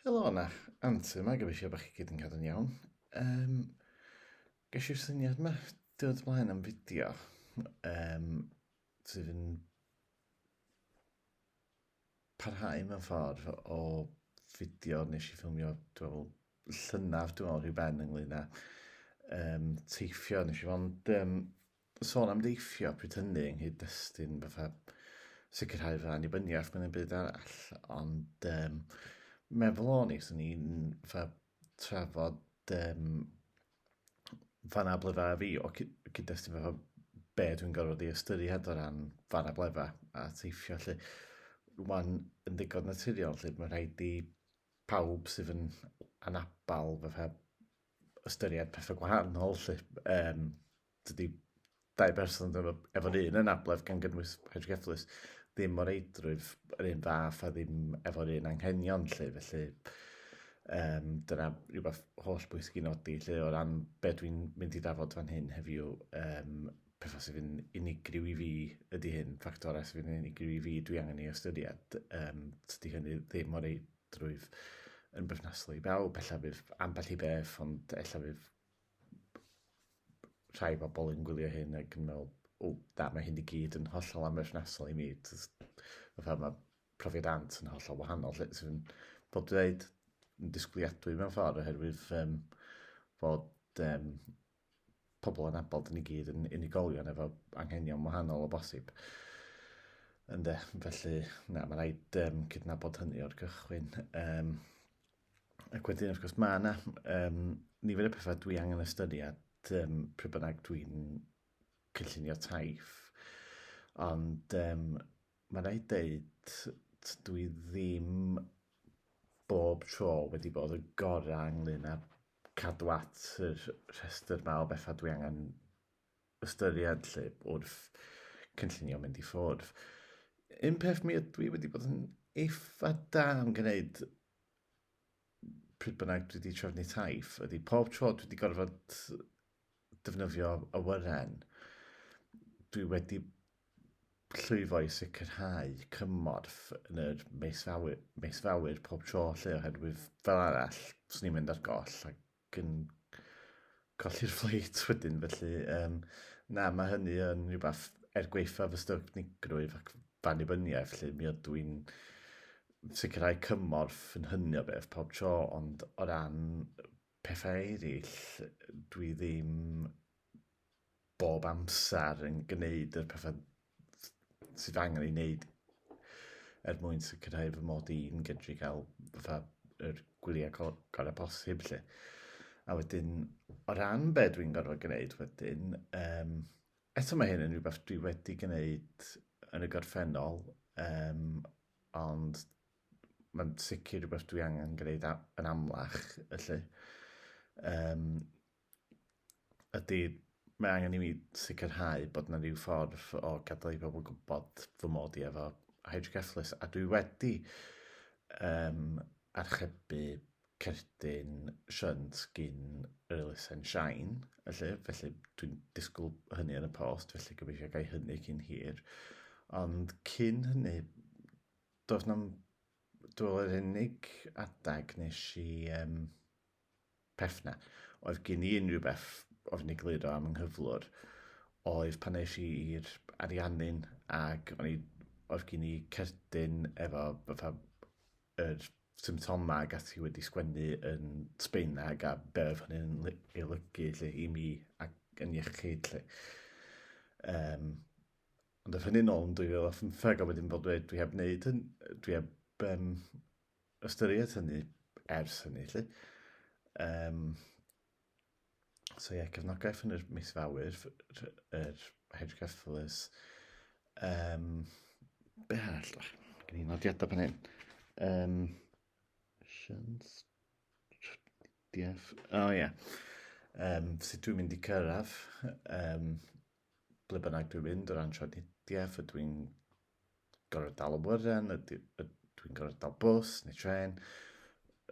Helo yna, Anti yma, gobeithio bod chi gyd yn cadw'n iawn. Um, ges i'r syniad yma diwrnod y blaen am fideo um, sydd yn parhau mewn ffordd o fideo nes i ffilmio, dwi'n meddwl, llynaf, dwi'n meddwl, rhyw ben ynglyn â um, teithio. Nes i fod um, sôn am deithio pryd hynny yng nghyd-destun fatha sicrhau fy annibyniaeth mewn un byd arall, ond um, meddwl o'n i, swn i'n fatha trafod um, fanablefa a fi o cyd-destun fatha be dwi'n gorfod ei ystyried o ran fanablefa a teithio lle. Rwy'n yn ddigon naturiol lle mae'n rhaid i pawb sydd yn anabal fatha ystyried pethau gwahanol lle. Um, Dydy dau berson efo, efo'r un anabledd gan gynnwys hydrgefflus ddim o'r eidrwydd yr un fath a ddim efo'r un anghenion lle, felly um, dyna rhywbeth holl bwysig i nodi lle o ran beth dwi'n mynd i ddafod fan hyn heddiw, um, pethau sydd yn unigryw i fi ydy hyn, ffactorau sydd yn unigryw i fi dwi angen ei ystyried, um, tydy hynny ddim o'r eidrwydd yn berthnasol i bawb, ella bydd ambell i beth, ond ella bydd rhai bobl yn gwylio hyn ac yn meddwl, o, na, mae hyn i gyd yn hollol amherthnasol i mi. Fatha mae profiad Ant yn hollol wahanol, lle sy'n bod dweud yn disgwyliadwy mewn ffordd oherwydd um, bod um, pobl yn abod yn i gyd yn unigolion efo anghenion wahanol o bosib. Ynde, felly, na, mae'n rhaid um, cydnabod hynny o'r cychwyn. Um, ac wedyn, wrth gwrs, mae yna um, nifer y pethau dwi angen ystyried um, pryd bynnag dwi'n cynllunio taif. Ond um, mae'n rhaid dweud, dwi ddim bob tro wedi bod y gorau ynglyn â cadw at y rhestr yma o bethau dwi angen ystyried lle bod cynllunio mynd i ffwrdd. Un peth mi ydw i wedi bod yn eitha da am gwneud pryd bynnag dwi wedi trefnu taith ydy pob tro dwi wedi gorfod defnyddio awyren dwi wedi llwyfo i sicrhau cymorth yn yr meisfawyr, meisfawyr pob tro lle oherwydd fel arall swn i'n mynd ar goll ac ac yn colli'r ffleit wedyn, felly yym na, mae hynny yn rhywbeth, er gwaetha fy styfgnigrwydd ac f'annibyniaeth 'lly, mi ydw i'n sicrhau cymorth yn hynny o beth pob tro, ond o ran pethau eraill, dwi ddim... bob amser yn gwneud yr pethau sydd angen ei wneud er mwyn sicrhau fy mod i'n gydru cael fatha yr gwyliau go- gorau posib 'lly. A wedyn o ran be' dwi'n gorfod gwneud wedyn yym eto mae hyn yn rhywbeth dwi wedi gwneud yn y gorffennol yym ond mae'n sicr rhywbeth dwi angen gwneud a- yn amlach felly. Yym. ydy, mae angen i mi sicrhau bod yna rhyw ffordd o gadael i bobl gwybod fy mod i efo hydrocephalus, a dwi wedi um, archebu cerdyn shunt gyn yr elusen Shine, felly, felly dwi'n disgwyl hynny yn y post, felly gobeithio gael hynny cyn hir. Ond cyn hynny, doedd na'm... Dwi'n meddwl yr unig adeg nes i... Um, peth 'na. Oedd gen i unrhyw beth oeddwn i gliro am yng nghyflwr oedd pan eis i i'r Ariannin ac o'n i oedd gen i cerdyn efo fatha yr symptomau ac ati wedi sgwennu yn Sbaeneg a be' oedd hynny'n ly- ei olygu 'lly i mi ac yn iechyd 'lly. Yym ond ath hynny nôl yn 2015 a wedyn fel dweud dwi heb wneud hyn- dwi heb yym ystyried hynny ers hynny, lle. Um, so ie, cefnogaeth yn yr mis fawyr, yr Hedge Cyfflus. Um, be all? Gen i'n nodiadau pan hyn. Um, Sians... Dief... O oh, ie. Yeah. Um, sut dwi'n mynd i cyrraedd um, ble bynnag dwi'n mynd o ran trafnidiaeth, ydw i'n gorfod dal awyren, ydw i'n gorfod dal bws neu tren.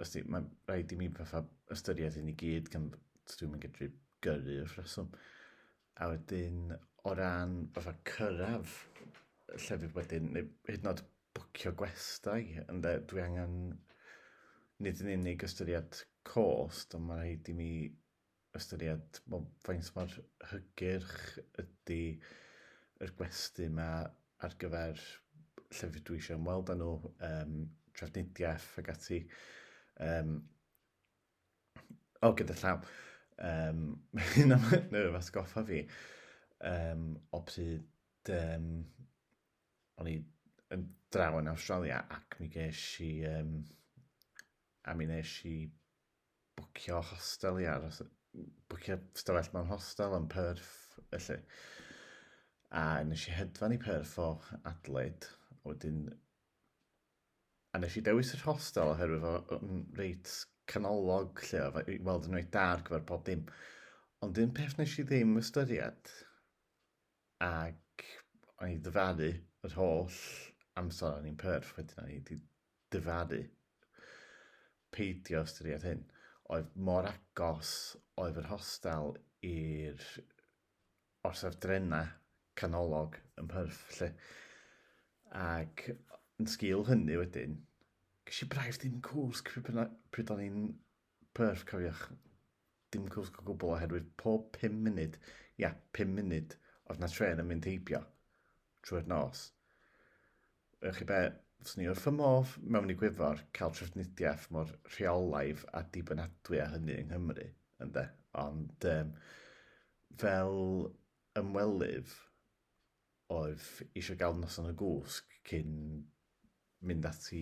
Os di, mae'n rhaid i mi fatha ystyried hyn i gyd gan dwi'n mynd gydru gyrru wrth reswm. A wedyn o ran fatha cyrraedd llefydd wedyn, neu hyd nod bwcio gwestai, ynde, dwi angen nid yn unig ystyried cost, ond mae rhaid i mi ystyried wel faint mor hygyrch ydi yr gwesty 'ma ar gyfer llefydd dwi isio ymweld â nhw yym trafnidiaeth ag ati yym o gyda llaw yym ma' hyn am hynny yn atgoffa fi yym o pryd yym o'n i yn draw yn Awstralia ac mi gesh i yym a mi nesh i bwcio hostel i aros, bwcio stafell mewn hostel yn Perth, felly. A nes i hedfan i Perth o Adelaide, a wedyn... A nes i dewis yr hostel oherwydd fo yn reit canolog lle, oedd i weld yn reit da ar gyfer pob dim. Ond un peth nes i ddim ystyried, ac o'n i ddyfaru yr holl amser o'n i'n Perth wedyn, o'n i wedi dyfarnu. Peidio ystyried hyn. Oedd mor agos oedd yr hostel i'r orsaf drenau canolog ym Mhyrth 'lly. Ac yn sgil hynny wedyn, ges i braidd dim cwsg pryd o'n i'n Perffaith, cofiwch, dim cwsg o gwbl oherwydd pob pum munud, ia, pum munud, oedd 'na trên yn mynd heibio trwy'r nos. Ewch chi be, fyswn ni wrth fy modd mewn i Gwyfor cael trafnidiaeth mor rheolaidd a dibynadwy â hynny yng Nghymru, ynde? Ond, um, fel ymwelydd, oedd eisiau gael noson y gwsg cyn mynd ati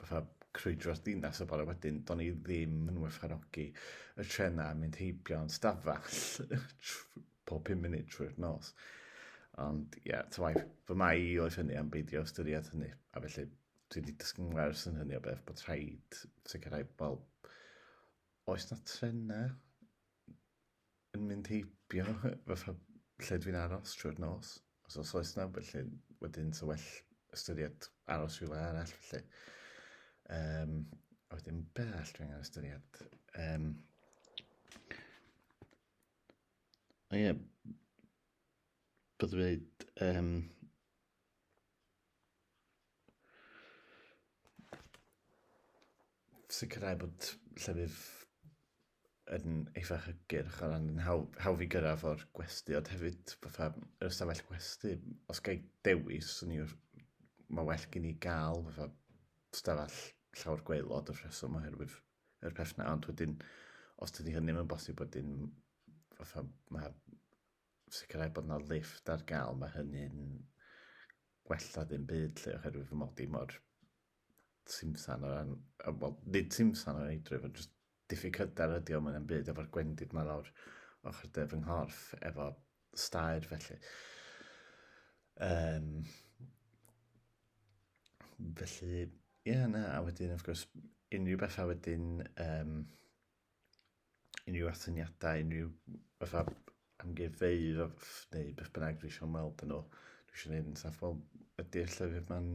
fatha crwydro'r dinas y bore wedyn, do'n i ddim yn werthfawrogi y trenau a mynd heibio yn stafell pob 5 munud trwy'r nos. Ond ie, yeah, tywai, fy mai i oedd hynny am beidio ystyried hynny, a felly dwi wedi dysgu'n wers yn hynny o beth bod rhaid sicrhau, wel, oes na trenau yn mynd heibio fatha lle dwi'n aros trwy'r nos. Os os oes na, felly wedyn sa well ystyried aros rhywle arall felly. Um, a wedyn be all dwi'n angen ystyried? Um, o ie, yeah, byddwn dweud um, sicrhau bod llefydd yn eitha hygyrch o ran yn hawdd, hawdd i gyrraedd o'r gwesti, ond hefyd fatha yr ystafell gwesti, os gael dewis, yn i'r, mae well gen i gael fatha ystafell llawr gweilod o'r rheswm oherwydd yr peth na, ond wedyn, os dydy hynny ddim yn bosib wedyn, fatha mae sicrhau bod yna lift ar gael, mae hynny'n gwella ddim byd lle oherwydd fy mod i mor simsan o ran, wel, nid simsan o ran eidrwydd, ond jyst Diffyg hyder ydi o mwy na'm byd efo'r gwendid 'ma lawr ochr de fy nghorff efo staer felly. Um, felly, ie, yeah, na, a wedyn, of course, unrhyw bethau wedyn, um, unrhyw athyniadau, unrhyw fatha amgueddfeydd neu beth bynnag dwi eisiau ymweld yn nhw, dwi eisiau gwneud yn saff, wel, ydy'r llyfr ma'n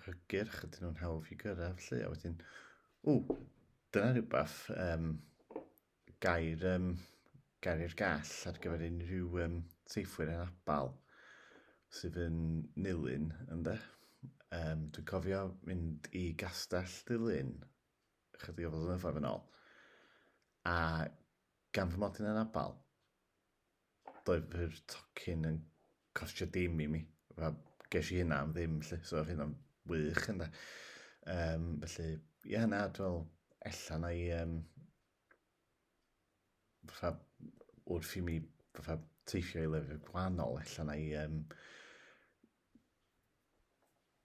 hygyrch, ydyn nhw'n hawdd i gyrraedd lle, a wedyn, o, dyna rhywbeth, um, gair, um, gair i'r gall ar gyfer unrhyw um, seifwyr yn abal sydd yn nilyn, ynddo. Um, dwi'n cofio mynd i gastell dilyn chydig o flynyddoedd yn ôl, a gan fy mod i'n anabal, doedd yr tocyn yn costio dim i mi. Fel, ges i hynna am ddim, lle, so oedd hynna'n wych, ynddo. Um, felly, ie, yeah, na, dwi'n ella na i... Um, fatha, wrth i mi fatha, teithio i lefydd gwahanol, ella na i... Um,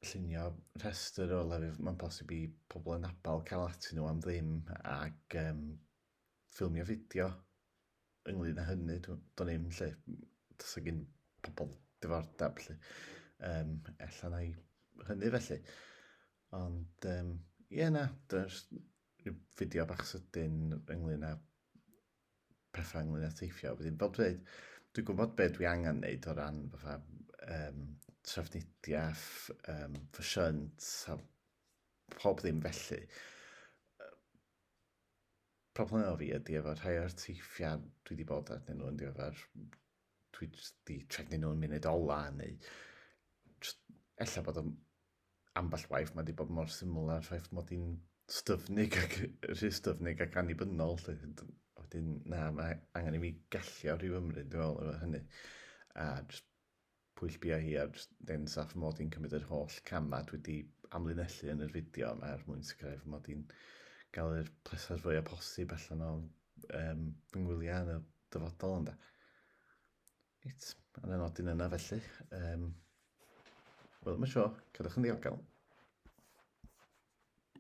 llunio rhestr o lefydd mae'n posib i pobl yn abal cael atyn nhw am ddim ac um, ffilmio fideo ynglyn â hynny, do'n i'm lle, does gen pobl diddordeb lle, um, ella na i hynny felly. Ond, um, ie yeah, na, does rhyw fideo bach sydyn ynglyn â pethau ynglyn â teithio. Wedyn, fel dweud, dwi'n gwybod beth dwi angen wneud o ran fatha um, trafnidiaeth, um, ffysiant a pob ddim felly. Problem efo fi ydi efo rhai o'r teithiau dwi wedi bod arnyn nhw yn ddiweddar, dwi jyst 'di trefnu nhw'n munud ola neu jyst ella bod o'n ambell waith mae wedi bod mor syml â'r ffaith mod i'n styfnig ac rhy styfnig ac annibynnol 'lly wedyn na mae angen i mi gallio rhyw ymryd dwi'n meddwl efo hynny a jyst Pwyll bia hi ar dân saff mod i'n cymryd yr holl camau dwi 'di amlinellu yn yr fideo yma er mwyn sicrhau fy mod i'n gael yr pleser fwya posib allan o um, fy ngwyliau yn y dyfodol ynde. Reit, ar y nodyn yna felly, um, wel yma sio, cadwch yn ddiogel.